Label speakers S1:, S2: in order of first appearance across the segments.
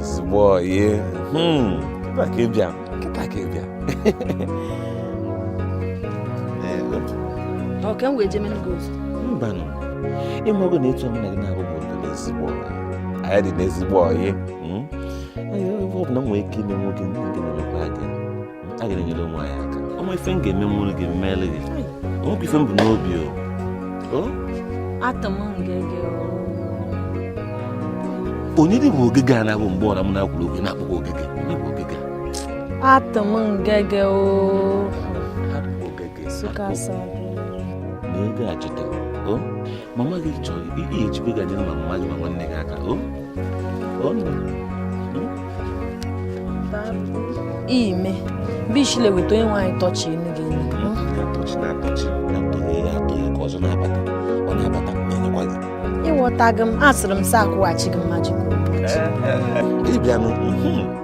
S1: ezigbo ọyị hmm. kịta ka ị bịa kịta ka ị
S2: bịa ọ ka m wee jemere gị ozi
S1: mbanụ ị mago na etu mụ na gị na-abụbu n'ezigbo ọyị anyị dị n'ezigbo ọyị hmm. ọ bụ na m nwee ike ime nwoke ndị nke na-emekwa gị a ga-enyere ụmụ anyị aka o nwee ife m ga-emenwuru gị m mele gị o nwekwa ife m bu n'obi o atọ
S2: m
S1: ngege onye dị bụ Ogige a na-abụ mgbe ọbụla m na-ekwuru okwu na-akpọkwa Ogige onye bụ Ogige atọ
S2: m ngege
S1: o
S2: sukasa n'oge
S1: a cheta o mama gị chọrọ ị ga-ejibega nyere ma mama gị ma nwanne gị aka o
S2: ime bishile weta onye nwaanyị tọchi enu
S1: gị elu ịghọtaghị m
S2: asịrị m sị akwụghachi gị mmaji
S1: ịbịanụ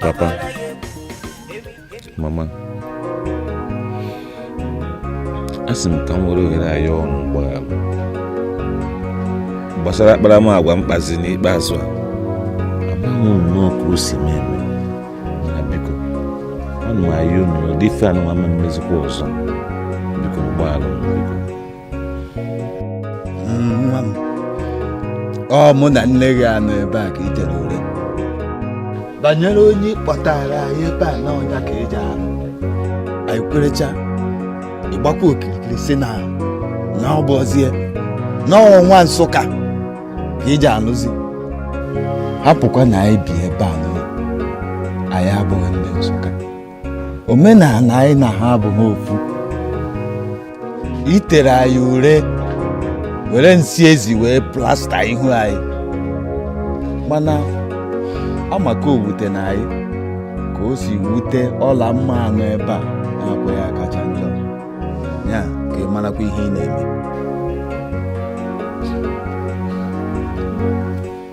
S1: Papa, mama, a sị m ka m were ohere a yọọ unu mgbaghara gbasara akparamagwa m kpazi n'ikpeazụ a amaghị m nnọọ ka o si mee eme mana biko ana m ayọ unu ụdị ife anụnwa ama emezikwa ọzọ biko gbaghara m
S3: nwa m ọ mụ na nne gị anọ ebe a ka i jere ure banyere onye ị kpọtara anyị ebe a na ọ nya ka ị ja-alụ anyị kwerecha ị gbakwa okirikiri sị na na ọ bụzie na ọ nwa Nsụka ka ị ja-anụzi hapụkwa na anyị bi ebe a na anyị abụghị ndị Nsụka omenala anyị na ha abụghị ofu i tere anyị ure were nsị ezi wee plaster ihu anyị mana amaka o wute na anyị ka o si wute Ọlamma a nọ ebe a na-akwa ya kacha njọ ya ka ị marakwa ihe ị na-eme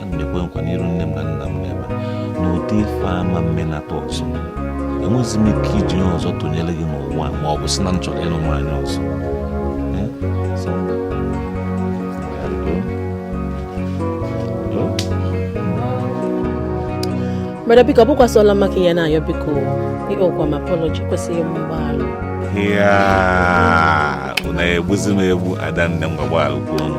S1: ana m ekwe nkwa n'iru nne m na nna m n'ebe a n'ụdị ife a ama emenata ọzọ enweghịzi m ike iji ihe ọzọ tụnyere gị n'ụwa ma ọ bụ sị na m chọrọ ịlụ nwaanyị ọzọ Brother
S2: biko ọ bụkwa sọ Ọlamma ka ị ya na-ayọ biko ị kpọkwa m apology kwesịghị m mgbaghara ya
S1: unu ya-egbuzi m egbu adanne m gbaghalụ kwanụ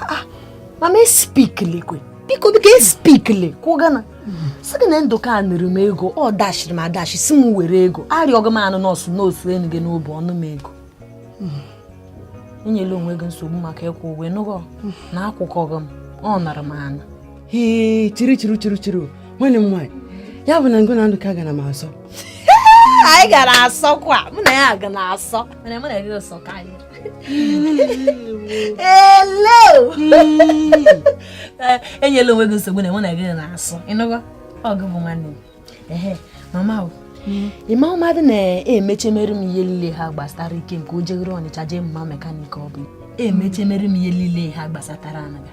S2: Ah, mama espiklekwe biko biko espiklekwe gana sị gị na ndụka nụrụ m ego ọ dashiri m adashi si m were ego arịọghị m anụ nọọsụ nọọsụ enu gị n'obu ọ nụ m ego enyela onwe gị nsogbu maka ịkwụ ụgwọ ịnụgo na akwụkwaghị m ọ nara m ana ee chiri
S4: chiri chiri chiri nwanne m nwaanyị ya bụ na ngụ na ndụka gara m asọ anyị
S2: gara asọkwa mụ na ya ga na asọ mana mụ na gị sọ ka anyị Hello! Eh, enyela onwe gị nsogbu na mụ na gị na-asọ ịnụgo ọ gị bụ nwanne ehe mama o ịma ụmadụ na-emechemere m ihe niile ha gbasara Ikem ka o jegoro ọnịcha jee mụma mekanik ọ bụ emechemere m ihe niile ha gbasatara anaga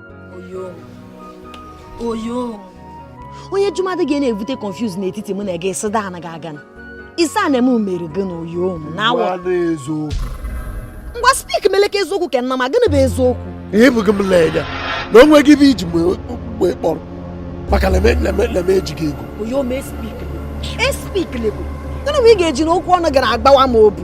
S2: onye jumadi ga na-evute confuse n'etiti mụ na gị sị daa anaghị aga na isi a na-eme mere gị na oyo m na awa ngwa spik meleke eziokwu ka nna ma gịnị bụ eziokwu ị hụghị m
S5: l'enya na o nweghị ihe iji m kpọrọ maka na m ejighị ego oyo m espik
S2: espiklekwe gịnị bụ ị ga-eji n'okwu ọnụ gara agbawa m obu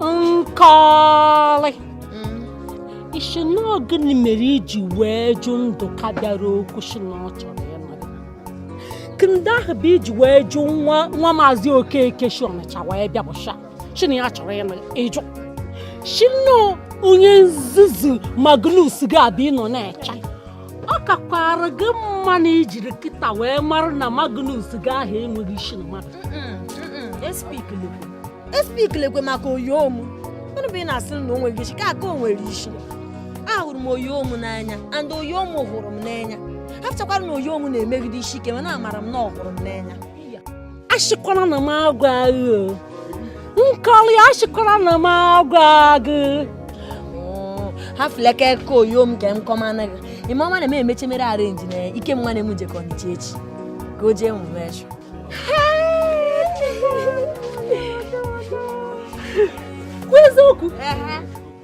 S6: nkọlị ị sị na gịnị mere iji wee jụ ndụka bịara okwu sị na ọ chọrọ ịnụ gị ndị ahụ bụ iji wee jụ nwa nwa maazị okeke si ọnịcha wee bịa bush a sị na ya chọrọ ị jụ sị na onye nzuzu magnus ga-abịa ị nọ na-eche ọ kakwara gị mma na ijiri kịta wee mara na Magnus gị ahụ enweghị isi na mmadụ
S2: espiklekwe maka oyo m gịnị bụ ị na-asị na o nweghị isi ka aka o nwere isi ahụrụ m oyo m n'anya and oyo m hụrụ m n'anya hafụchakwara na oyo m na-emegide isi ike mana amara m na ọ hụrụ m n'anya
S6: asịkwara na m agwaa gị nkọlị asịkwara na m agwaa
S2: gị hafụleke ka oyo m ka m kọmana gị ịma ọma na m emechemere arenji na Ikem nwanne m jekọ ọnịcha echi ka o jee mụma
S6: ashịa eziokwu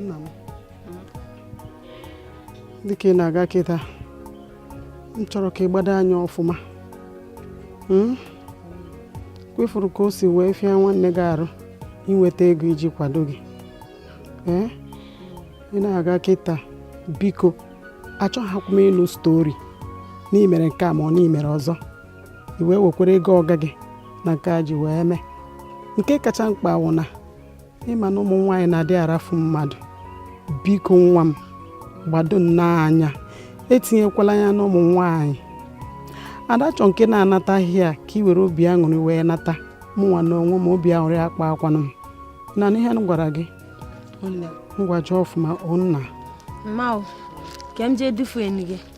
S7: nna m dịka ị na-aga kịta m chọrọ ka ị gbado anya ọfụma hmm? kwa ị fụrụ ka o si wee fịa nwanne gị arụ inweta ego iji kwado gị ee eh? ị na-aga kịta biko achọghịkwa m ịnụ stori na i mere nke a ma ọ na i mere ọzọ i wee wekwara ego ọga gị na nke a ji wee mee nke kacha mkpa wụ na ịma na ụmụ nwaanyị na-adị arafu mmadụ biko nwa m gbado nnọọ anya etinyekwala anya n'ụmụ nwaanyị adachọ nke na-anata ahịa ka ị were obi aṅụrị wee nata mụnwa na onwe m obi aṅụrị akpa akwanụ m na n'ihe m gwara gị ngwa jee ọfụma onna mma o
S2: ka m jee dufuo enu gị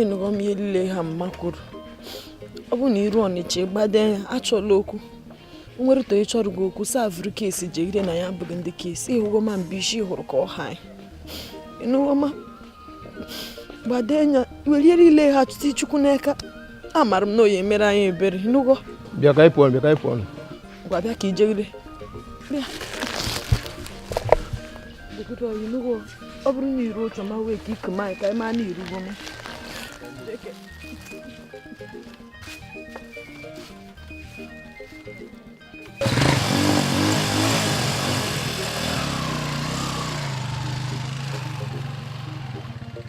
S8: ịnụgo m ihe niile ha mma kwuru ọ bụ na iru ọnịcha gbade anya achọla okwu nwere to ịchọrọ gị okwu savụrụ case jegide na anyị abụghị ndị case ịhụgo ma mba isi hụrụ ka ọ ha ịnụgo ma gbade anya were ya niile ha chụta chukwu n'aka amara m na ọ ya-emere anyị ebere ịnụgo bịa ka anyị pụọ bịa
S5: ka anyị pụọ ngwa bịa
S8: ka ijegide bịa dịgide o ịnụgo ọ bụrụ na iru otu ma wee ka iku ma ka anyị ma na irugo m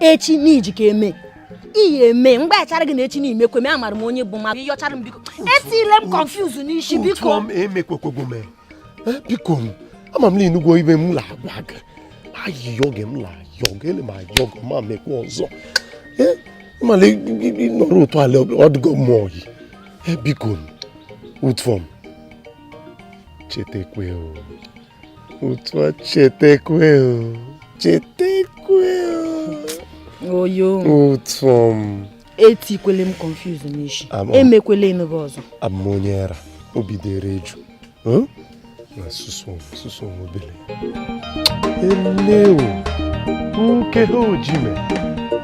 S2: echi n'iji ka eme iyi eme mgbe achara gị na echi n'ime kwe me amara m onye bụ mmadụ ịyọchara m biko etile m confuse n'isi biko m emekwekwogo m eh,
S5: biko m ama m na inugwo ibe m la agwa gị ayịyọ gị m la ayọ gị ele m ayọ gị ma mekwa ọzọ eh, ịmala nọrọ otu ala ọdụgo m oyi eh, biko m ụtọ m chetakwe o otu a chetekwe
S8: chetekwe oyo ụtọ m
S5: etikwele
S8: m confuse n'isi emekwele ịnụgo ọzọ abụ m onye
S5: ara obi dịrị eju na susu susu obele elewo nke ha ojime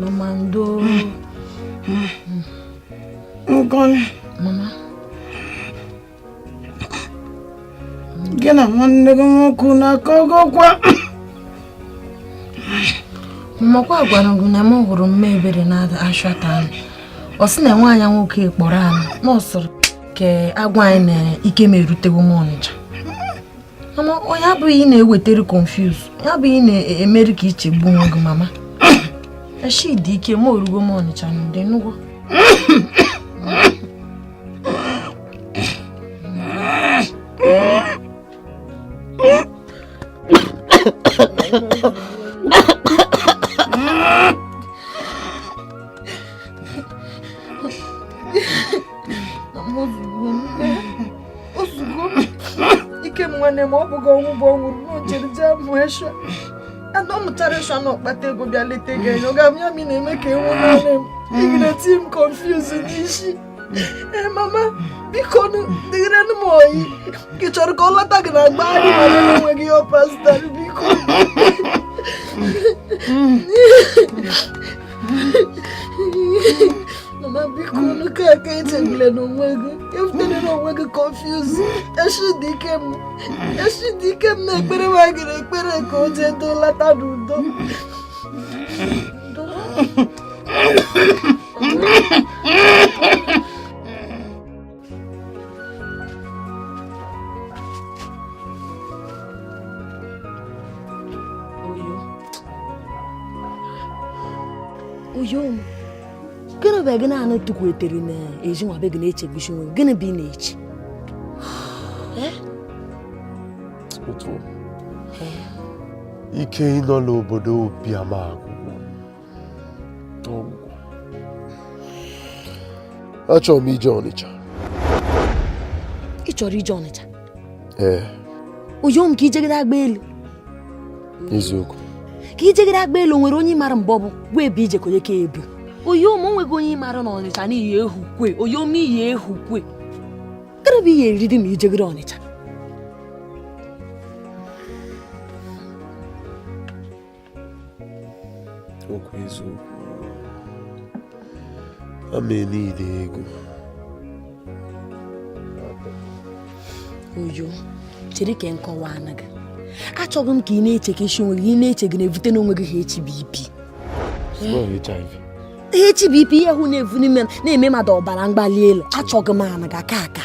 S7: Mama ndo. Mama. Gị na nwanne gị nwoke na-akọ
S8: ọgọkwa. Mmakwa gwara gị na m hụrụ Mama Ebere n'ashịa taanụ. Ọ sị na nwa ya nwoke kpọrọ anyị na ọ sịrị ka a gwa anyị na Ikem erutewo Ọnịcha. mama ọ ya bụ ihe na-ewetara ị confuse ya bụ ihe na-eme ị ka ichegbu onwe gị mama echi dị Ikem erugo ọnịcha n'udo ịnụgo ozugo Ikem nwanne ma ọ bụghị ọnwụ bụ ọ nwụrụ n'o jere jee mụ esha na ọ mụtara esha na ọ kpata ego bịa leta gị enyo ga m ya mi na-eme ka enwe nwanne m igide ti m konfuz n'isi ee mama biko dịgịrị m oyi gị chọrọ ka ọ lọta gị na agba anyị ma enweghị ihe ọ pasịtara biko
S2: mama biko unu ka aka echegbula n'onwe gị evutele n'onwe gị kọnfuz eshi dị Ikem eshi dị Ikem na-ekpere nwa gị ekpere ka o jee too lata n'udo oyo m gịnị bụ gị na-anọ tukwuetere na ezi nwa be gị na-echegbuchi onwe gịnị bụ ị na-eche
S5: eh? ike ịnọ n'obodo Obiama agwụ agwụgwo achọrọ m ije
S2: Ọnịcha ị chọrọ ije Ọnịcha ee oyo m ka ijegide agba elu
S5: eziokwu ka
S2: ijegide agba elu nwere onye mara mgbe ọ bụ gwa ebe ije konye ka ebu oyo m o nweghị onye ị mara na Ọnịcha n'i ye-ehukwe oyo m i ye-ehukwe gịnị bụ ihe eriri ma ijegide Ọnịcha
S5: okwu eziokwu ama niile ego
S2: oyo chere ka m kọwaara gị achọghị m ka ị na-echekasị onwe gị ị na-eche gị na-ebute n'onwe gị HBP HBP ihe hụ na-evu n'ime na-eme mmadụ ọbara mgbali elu achọghị m ana ga aka aka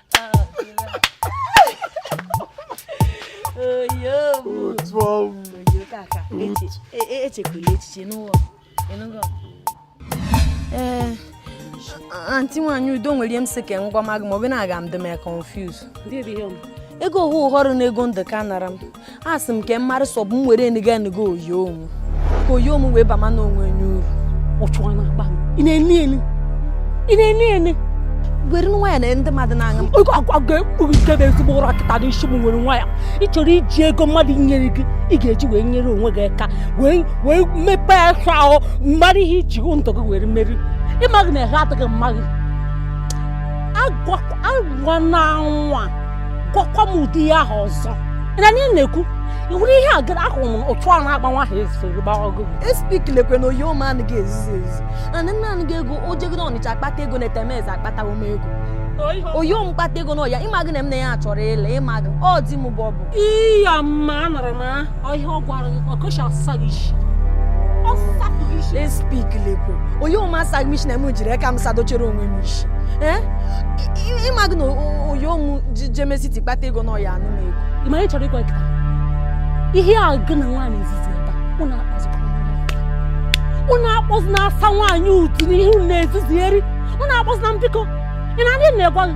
S2: echekwala echiche n'ụwa ee eh, anti nwaanyị udo nwere ihe m sị ka m gwa gị ma ọ bụ na aga m dị m confuse ego ọhụ họrọ na ego ndị ụka nara m asị m ka m mara sọ bụ m were nịga nịga oyo m ka oyo m wee bama na onwe nye uru ụchụọ na akpa ị na-eni eni ị na-eni eni were nwayọ na ndị mmadụ na-aṅụ m oge agwa ga-ekpughi nke bụ
S6: ezigbo ụra kịta dị isi m were nwayọ ị chọrọ iji ego mmadụ nyere gị ị ga-eji wee nyere onwe gị aka wee wee mepee aka ahụ mmadụ ihe iji hụ ndụ gị were meri ịmaghị na ha adịghị mma gị agwa na nwa gwakwa m ụdị ihe ahụ ọzọ na anyị na-ekwu iwere ihe a gara ahụrụ m otu a na-agba nwa ahụ esoro gba ọgụgụ espik lekwe na
S2: Oyom anụ ga-ezizi ezi na ndị nna anụ ga-ego o jegoro Ọnịcha akpata ego na etemeze akpatawo m ego Oyom kpata ego na ọya ịma gị na m na ya chọrọ ịla ịma gị ọ di m bụ ọ bụ iya mma
S6: anọrọ m ahụ ihe ọ gwara gị ọkọchị ọsịsa gị isi ọsịsa gị isi
S2: espik lekwe Oyom asaghị m isi na m jiri aka m sadochere onwe m isi Eh? Ị- ị- ịma gị na o- Oyom jemesiti kpata ego na ọya anụ m ego ị mara ị chọrọ ịkwa
S6: nkịta ihe a gị na nwaanyị izizi ebe a, unu akpazikwa unu akpọzi na-asa nwaanyị utu n'ihu na-ezizieri unu akpọzi na mbiko ị na-adị na-egwa gị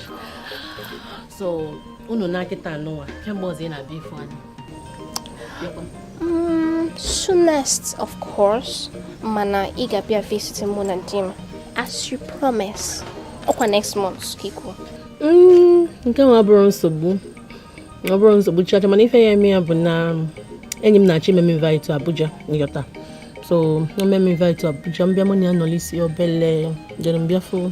S9: so unu na nkịta anụwa kee mgbe ọzọ ị na-abịa ịfụ anyị
S10: mm, soonest of course mana ị ga-abịa visit mụ na di m as you promise ọkwa next month ka i kwu
S9: mm, nke nwa abụrọ nsogbu ọ bụrọ nsogbu chacha mana ife ya-eme ya bụ na enyi m na-achọ ime m invite to Abuja nyọta so o mee m invite to Abuja m bịa mụ na ya nọlisi obele jere m bịa fụ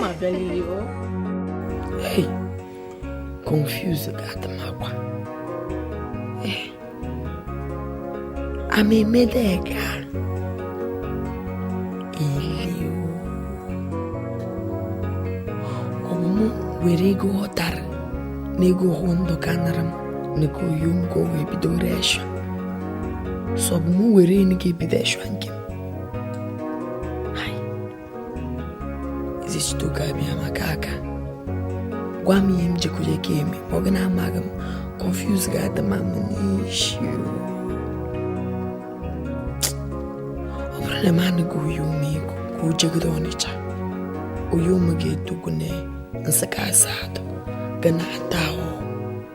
S9: ma bịa
S4: n'ihi o hey confuse ga-adị m agwa amemedega
S8: iliu ọmụmụ were ego ọ tara na ego hụ ndụ ka nara m n'ego Oyom ka o wee bido reshọ sọbụ m were enu ga-ebido eshọ nke m Ezechitoke Abịama ka ga-agwa m ihe m jekwuje ka eme ma ọ gị na-amaghị m confuse ga-adị ma m n'isi ọ bụrụ na m anụghị Oyom ego ka o jegodo Ọnịcha Oyom ga-etokwu na Nsụka Asadu ga na-ata ahụ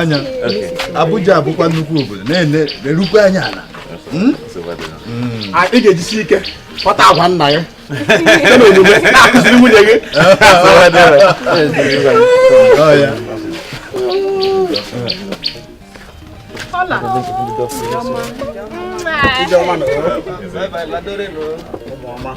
S3: anya Abuja bụkwa nnukwu obodo na-erukwa anya ala hmm? Hmm. ị ga-ejisi ike kpọta agwa nna gị na-akụziri nwunye gị Hola. Ijeoma. Ijeoma.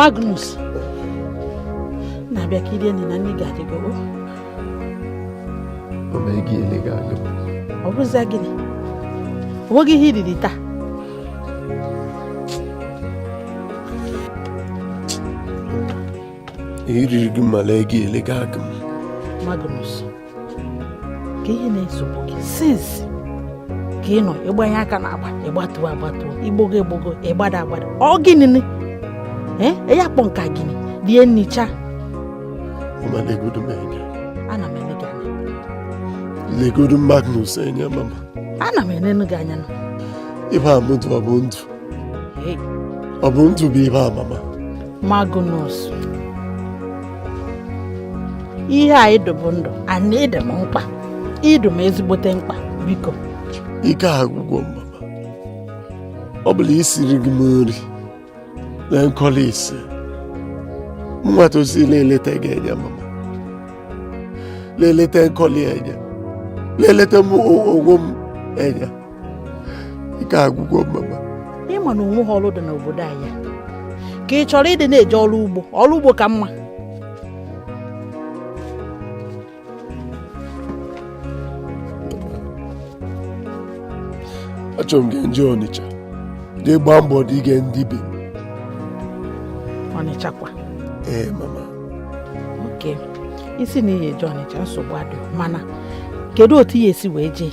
S6: Magnus na-abịa ka i rie nri na nri gị adịgowo ọ bụrụzi gịnị o nweghị ihe i riri
S5: taa iriri gị mala ego ele gị aka m Magnus
S6: kee ihe na-esogbu gị since ka ị nọ ị gbanye aka na agba ị gbatuo agbatuo i gbogo egbogo ị gbada agbada ọ gịnị ni ee ya kpọ nka gịnị rie nnicha Mama legodu m anya. ana m ele gị
S5: anya Legodu Magnus anya mama. ana m elenu
S6: gị anya nụ ihe a
S5: m dụ ọ bụ ndụ. ọ bụ ndụ bụ ihe a mama
S6: Magnus ihe a ị dụ bụ ndụ and ị dị m mkpa ị dụ m ezigbote mkpa biko ike
S5: agwụgwọ m mama ọ bụla isiri gị m nri na Nkọli ise m nwa tosi na-eleta gị anya mama na-eleta Nkọli anya na-eleta m onwe m anya ike agwụgwọ m mama ị ma na o nwehọ
S6: ọrụ dị n'obodo anyị ka ị chọrọ ịdị na-eje ọrụ ugbo ọrụ ugbo ka
S5: mma achọrọ m ge m je Ọnịcha jee gbaa mbọ dị ge ndị ibe
S6: Ọnịcha kwa ee mama okay ị sị na ị ya eje Ọnịcha nsogbu adịghị mana kedu otu ị ya esi wee jee